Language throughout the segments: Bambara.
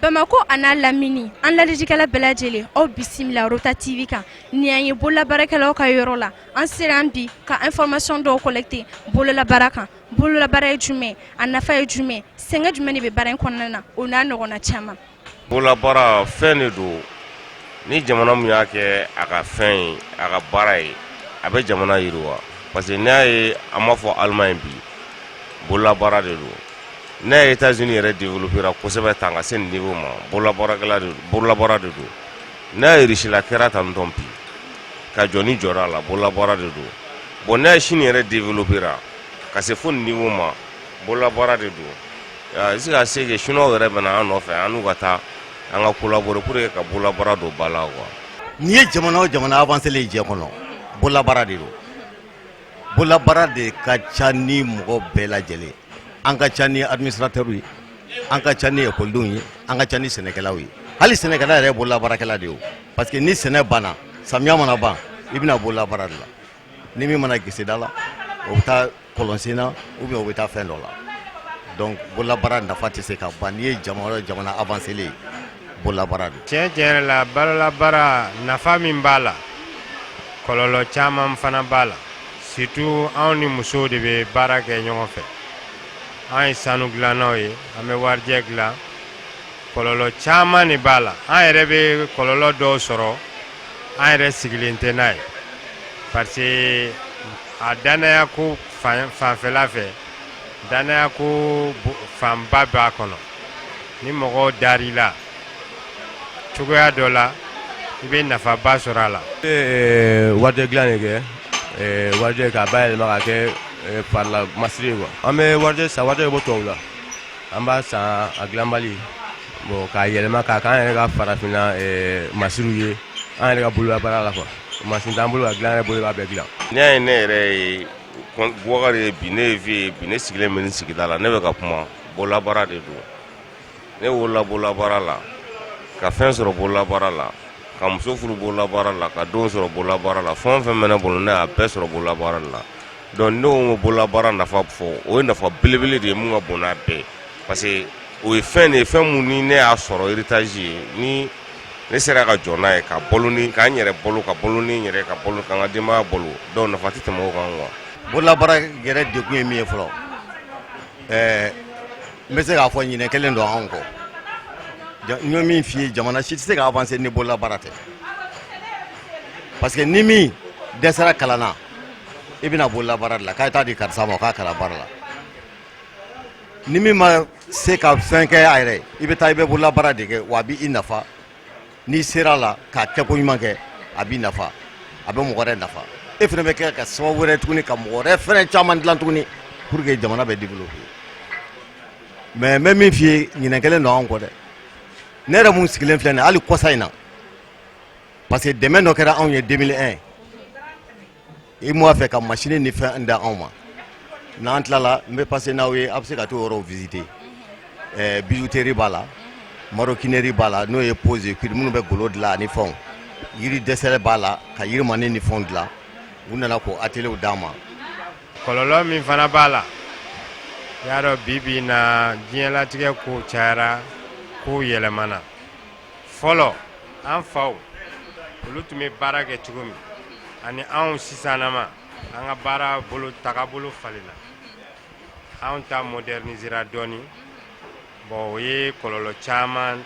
Bamakɔ an'a lamini an lajɛlikɛla bɛɛ lajɛlen aw bisimila Rota TV kan ni an ye bololabaarakɛlaw ka yɔrɔ la an sera yan bi ka information dɔw collecter bololabaara kan bololabaara ye jumɛn a nafa ye jumɛn sɛgɛn jumɛn de bɛ baara in kɔnɔna na o n'a ɲɔgɔnna caman bololabaara fɛn de don ni jamana min y'a kɛ a ka fɛn ye a ka baara ye a bɛ jamana yiriwa parce que n'a ye an b'a fɔ Allemagne bi bololabaara de don ne ye taa z yɛrɛ de wolofin kosɛbɛ tan ka se nin de ma bololabra bololabra de don ne yesila kɛra tan n dɔn bi ka jɔn ni jɔ a la bololabra de don bɔn ne ye sini yɛrɛ de wolofin ka se fo nin de ma bololabra de don se ka se sun yɛrɛ bɛ an nɔfɛ an n'u ka taa an ka kolaɔr ye ka bololabra don ba la wa n'i ye jamana jamana a' selen jɛ kɔnɔ bololabra de don bololabaara de ka ca ni mɔgɔ bɛɛ lajɛlen an ka ca ni administrateurs ye an ka ca ni ekɔlidenw ye an ka ca ni sɛnɛkɛlaw ye hali sɛnɛkɛla yɛrɛ bololabaarakɛla de ye parce que ni sɛnɛ banna samiya mana ban i bɛ na bololabaara de la ni min ma na geseda la o bɛ taa kɔlɔnsen na ou bien o bɛ taa fɛn dɔ la donc bololabaara nafa tɛ se ka ban n'i ye jamana avancélen ye bololabaara tiɲɛ tiɲɛ la bololabaara nafa min b'a la kɔlɔlɔ caman fana b'a la surtout anw ni musow de bɛ baara kɛ ɲɔgɔn fɛ an ye sanu dilannaw ye an bɛ warijɛ dilan kɔlɔlɔ caman de b'a la an yɛrɛ bɛ kɔlɔlɔ dɔw sɔrɔ an yɛrɛ sigilen tɛ n'a ye parce que a dannaya ko fanfɛla fɛ dannaya ko fanba b'a kɔnɔ ni mɔgɔ dar'i la cogoya dɔ la i bɛ nafaba sɔrɔ a la wari dilan de kɛ wari k'a bayɛlɛma k'a kɛ farila masiri ye an bɛ wari san wari bɛ bɔ tubabu la an b'a san a dilanbali bon k'a yɛlɛma k'a k'an yɛrɛ ka farafinna masiriw ye an yɛrɛ ka bololabaara la quoi mansin t'an bolo ka dilan yɛrɛ bolo b'a bɛɛ dilan n'i y'a ye ne yɛrɛ ye Bukari ye bi ne ye vieux ye bi ne sigilen bɛ nin sigida la ne bɛ ka kuma bololabaara de don ne wolola bololabaara la ka fɛn sɔrɔ bololabaara la ka muso furu bololabaara la ka denw sɔrɔ bololabaara la fɛn o fɛn bɛ n bolo ne y'a bɛɛ sɔrɔ bololabaara la donc ne ko bololabaara nafa fɔ o ye nafa belebele de ye mun ka bon n'a bɛɛ parce que o ye fɛn de ye fɛn min ni ne y'a sɔrɔ héritage ye ni ne sera ka jɔ n'a ye ka balo ni k'an yɛrɛ balo ka balo ni n yɛrɛ ka balo ka n ka denbaya balo donc nafa tɛ tɛmɛ o kan quoi bololabaara yɛrɛ dekun ye min ye fɔlɔ ɛɛ n bɛ se k'a fɔ ɲinɛ kelen don anw kɔ n ye min f'i ye jamana si tɛ se ka avancer ni bolola baara tɛ parce que ni min dɛsɛra kalan na i bɛna bolola baara de la k'a ye taa di karisa ma k'a kalan baara la ni min ma se ka fɛn kɛ a yɛrɛ ye i bɛ taa i bɛ bolola baara de kɛ wa a b'i nafa n'i sera a la k'a kɛko ɲuman kɛ a b'i nafa a bɛ mɔgɔ wɛrɛ nafa e fɛnɛ bɛ kɛ ka sababu wɛrɛ tuguni ka mɔgɔ wɛrɛ fɛnɛ caman dilan tuguni pour que jamana bɛ développer mais n bɛ min f'i ye ɲinɛ kelen don anw kɔ dɛ ne yɛrɛ mun sigilen filɛ nin hali kɔsa in na parce que dɛmɛ dɔ kɛra anw ye 2001 UEMOA fɛ ka masini ni fɛn d'anw ma n'an tilala n bɛ passer n'aw ye a bɛ se ka t'o yɔrɔw visiter bijouterie b'a la maroquinerie b'a la n'o ye peaux et cuirs minnu bɛ golo dilan ani fɛnw yiri dɛsɛ b'a la ka yirimaani ni fɛnw dilan u nana k'o ateliers d'an ma kɔlɔlɔ min fana b'a la i y'a dɔn bi bi in na diɲɛlatigɛ kow cayara kow yɛlɛmana fɔlɔ an faw olu tun bɛ baara kɛ cogo min ani anw sisanama an ka baara bolo tagabolo falenna anw ta modernisera dɔɔnin bon o ye kɔlɔlɔ caman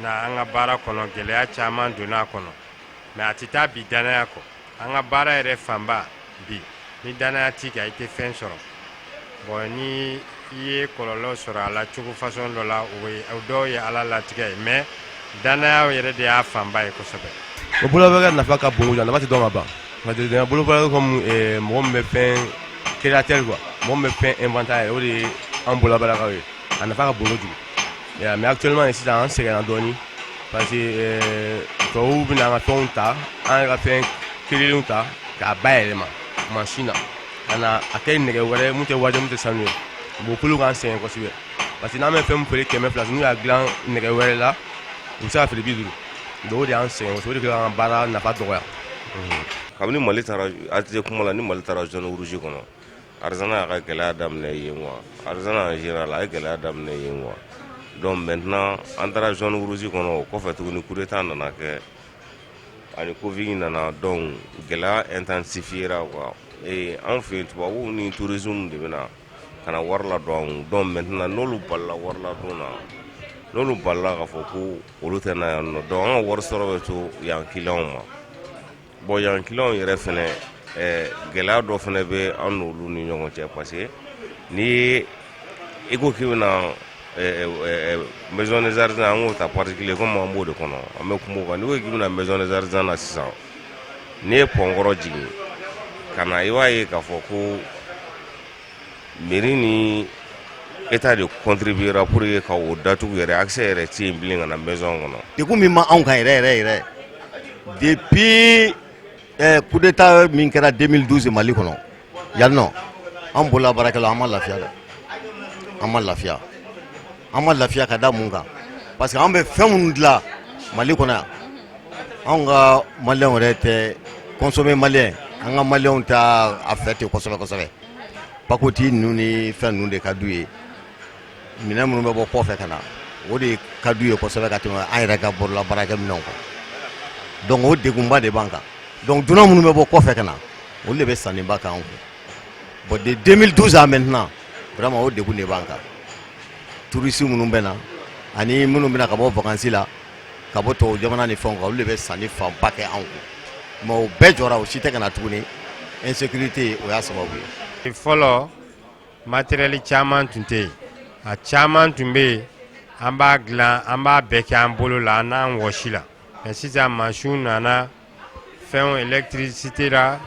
na an ka baara kɔnɔ gɛlɛya caman donna a kɔnɔ mais a tɛ taa bi dannaya kɔ an ka baara yɛrɛ fanba bi ni dannaya t'i kan i tɛ fɛn sɔrɔ bon ni i ye kɔlɔlɔ sɔrɔ a la cogo façon dɔ la o dɔw ye ala latigɛ ye mais dannaya yɛrɛ de y'a fanba ye kosɛbɛ o bolola baara nafa ka bon a nafa tɛ dɔn ka ban parce que bolola baara comme mɔgɔ bɛ fɛn créateur quoi mɔgɔ bɛ fɛn inventer o de ye an bololabaarakaw ye a nafa ka bon kojugu Mais actuellement sisan an sɛgɛnna dɔɔnin parce que tubabuw bɛ an ka fɛnw ta an yɛrɛ ka fɛn kelen ta k'a bayɛlɛma masin na ka na a kɛ nɛgɛ wɛrɛ min tɛ warijɛ min tɛ sanu ye bon k'olu k'an sɛgɛn kosɛbɛ parce que n'an bɛ fɛn feere kɛmɛ fila n'u y'a dilan nɛgɛ wɛrɛ la u bɛ se k'a feere bi duuru donc o de y'an sɛgɛn o de k'an ka baara nafa dɔgɔya kabini mali aliz kuma la ni mali taara zone rouge kɔnɔ Artisanat y'a ka gɛlɛya daminɛ yen quoi artisanat a ye gɛlɛya daminɛ yen quoi donc maintenant an taara zone rouge kɔnɔ o kɔfɛ tuguni coup d'État nana kɛ ani covid nana donc gɛlɛya intensifiera ee an fɛ yen tubabuw ni touristes de bɛ na ka na wari ladon donc maintenant n'olu balila wari ladon na n'olu balila k'a fɔ ko olu tɛ na yan nɔ donc an ka wari sɔrɔ bɛ to yan clients ma Bon yan clients yɛrɛ fɛnɛ ɛɛ gɛlɛya dɔ fɛnɛ bɛ an n'olu ni ɲɔgɔn cɛ parce que n'i ye i ko k'i bɛna ɛɛ o ɛɛ maison des artisans an k'o ta particulier comme an b'o de kɔnɔ an bɛ kum'o kan n'i ko k'i bɛna maison des artisans na sisan n'i ye pɔn kɔrɔ jigin ka na i b'a ye k'a fɔ ko Mairie ni état de contribuera pour ye ka o datugu yɛrɛ accès yɛrɛ tɛ yen bilen ka na maison kɔnɔ degun min ma anw kan yɛrɛ yɛrɛ yɛrɛ depuis coup d'état min kɛra 2012 mali kɔnɔ yan nɔ an bolola baarakɛlaw an ma lafiya dɛ an ma lafiya an ma lafiya ka da mun kan parce que an bɛ fɛn minnu dilan mali kɔnɔ yan anw ka maliyɛnw yɛrɛ tɛ consommer maliyɛn an ka maliyɛnw t'a fɛ ten kosɛbɛ kosɛbɛ pakoti ninnu ni fɛn ninnu de ka d'u ye minɛn minnu bɛ bɔ kɔfɛ ka na o de ka d'u ye kosɛbɛ ka tɛmɛ an yɛrɛ ka bolola baarakɛ minɛnw kan donc o degunba de b'an kan donc dunan minnu bɛ bɔ kɔfɛ ka na olu de bɛ sanniba k'an kun bon de 2012 à maintenant vraiment o degun de b'an kan touristes minnu bɛ na ani minnu bɛna ka bɔ vacances la ka bɔ tubabu jamana ni fɛnw kan olu de bɛ sanni fanba kɛ an kun mais o bɛɛ jɔra o si tɛ ka na tuguni insécurité o y'a sababu ye fɔlɔ matériel caman tun tɛ yen a caman tun bɛ yen an b'a dilan an b'a bɛɛ kɛ an bolo la an n'an wɔsi la mais sisan masinw nana fɛnw électricité la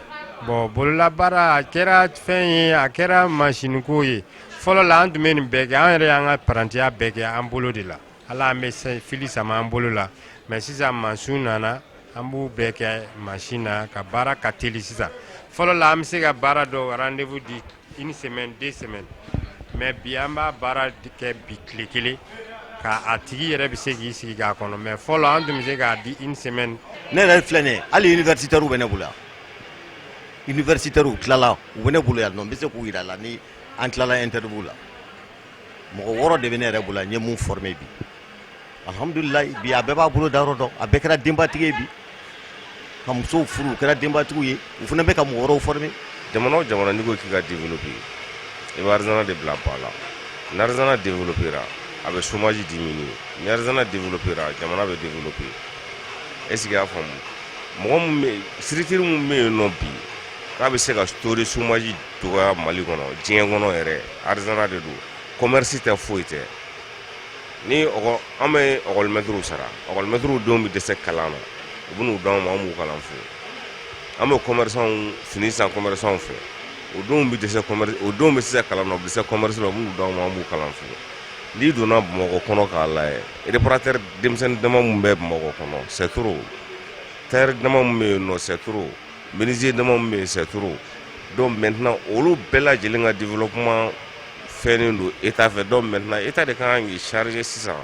bon bololabaara a kɛra fɛn ye a kɛra masiniko ye fɔlɔ la an tun bɛ nin bɛɛ kɛ an yɛrɛ y'an ka parantiya bɛɛ kɛ an bolo de la ala an bɛ fili sama an bolo la mais sisan masinw nana an b'u bɛɛ kɛ masin na ka baara ka teli sisan fɔlɔ la an bɛ se ka baara dɔw rendez-vous di Une semaine deux semaines mais bi an b'a baara kɛ bi tile kelen k' a tigi yɛrɛ bɛ se k'i sigi k'a kɔnɔ mais fɔlɔ an tun bɛ se k'a di une semaine ne yɛrɛ filɛ nin ye hali universitaires bɛ ne bolo yan universitaires tilala u bɛ ne bolo yan nɔ n bɛ se k'u jira la ni an tilala interview la mɔgɔ wɔɔrɔ de bɛ ne yɛrɛ bolo yan n ye mun former bi alihamudulila bi a bɛɛ b'a bolo da yɔrɔ dɔn a bɛɛ kɛra denbatigi ye bi ka musow furu u kɛra denbatigiw ye u fana bɛ ka mɔgɔ wɛrɛw former jamana o jamana n'i ko k'i ka développer i bɛ artisanat de bila ba la n'artisanat développera a bɛ chômage diminuer n'artisanat développera jamana bɛ développer est-ce que i y'a faamu mɔgɔ structure minnu bɛ yen nɔ bi k'a bɛ se ka sori chômage Dɔgɔ mali kɔnɔ diɲɛ kɔnɔ yɛrɛ aliz de don kɔmmasi tɛ foyi tɛ ni an bɛ ɔmɛturu sara amɛturu don bɛ dɛsɛ kalan na u bɛ'u dɔn anw ma b'u kalan fo an bɛ kɔmw fini san kɔmw fɛ o don bɛ dɛsɛ o don bɛ se kalan na u bɛ se kɔmmasi u b'u dɔn anw b'u kalan fo n'i donna mɔgɔ kɔnɔ k'a la eratɛ denmisɛnnin dama bɛ mɔgɔ kɔnɔ sɛto teri dama bɛ yen nɔ sɛto Menuisier dama min bɛ yen c'est trop donc maintenant olu bɛɛ lajɛlen ka développement fɛnnen don Etat fɛ donc maintenant Etat de ka kan k'i charger sisan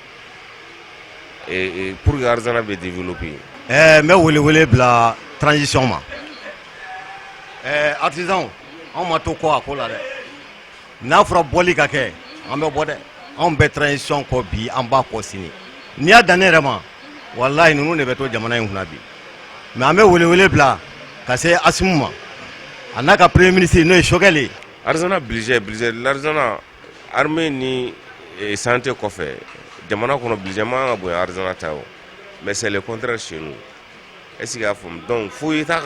ee pour que artisanat bɛ développer ɛɛ n bɛ wele wele bila transition ma ɛɛ artisans anw ma to kɔ a ko la dɛ. n'a fɔra bɔli ka kɛ an bɛ bɔ dɛ anw bɛ transition kɔ bi an b'a kɔ sini n'i y'a dan ne yɛrɛ ma walayi ninnu de bɛ to jamana in kunna bi mais an bɛ welewele bila ka se Asimi ma a n'a ka premier ministre n'o ye Choguel artisanat budget budget l'artisanat armée ni e, santé kɔfɛ jamana kɔnɔ budget man kan ka bonya artisanat ta o mais c'est le contraire chez nous E sigi y'a faamumu dɔn fo ye ka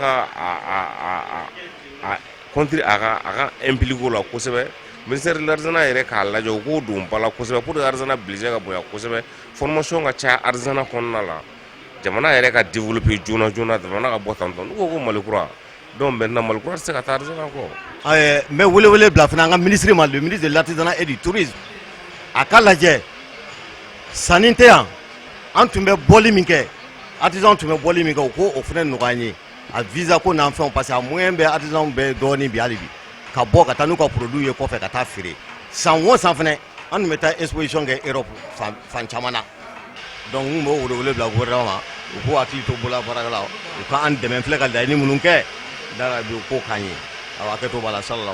kɔnte a a ka e ppliko la kosɛbɛ miri ladz yɛrɛ k'a lajɛ u k'o don bala kosɛbɛ p ladz bilisi ka bonyan kosɛbɛ fmasɔn ka ca ardz kɔnɔna la jamana yɛrɛ ka den bɛ joona joonana jamana ka bɔ tantɔn n ko ko mali kura Donc maintenant Mali kura tɛ se ka taa artisanat kɔ n bɛ welewele bila fana an ka ministre ma le ministre de l'artisanat et du tourisme a ka lajɛ sanni tɛ yan an tun bɛ bɔli min kɛ artisan tun bɛ bɔli min kɛ u k'o fana nɔgɔya an ye a visa ko n'an fɛnw parce que a moyen bɛ artisan bɛɛ dɔɔnin bi hali bi ka bɔ ka taa n'u ka produit ye kɔfɛ ka taa feere san wo san fana an tun bɛ taa exposition kɛ Europe fan caman na Dɔnku b'o wele bila wɛrɛ ma u ko waati to bolo bara la u k'an dɛmɛ filɛ ka da i ni minnu kɛ da u ko k'an ye a kɛ to b'a la sa la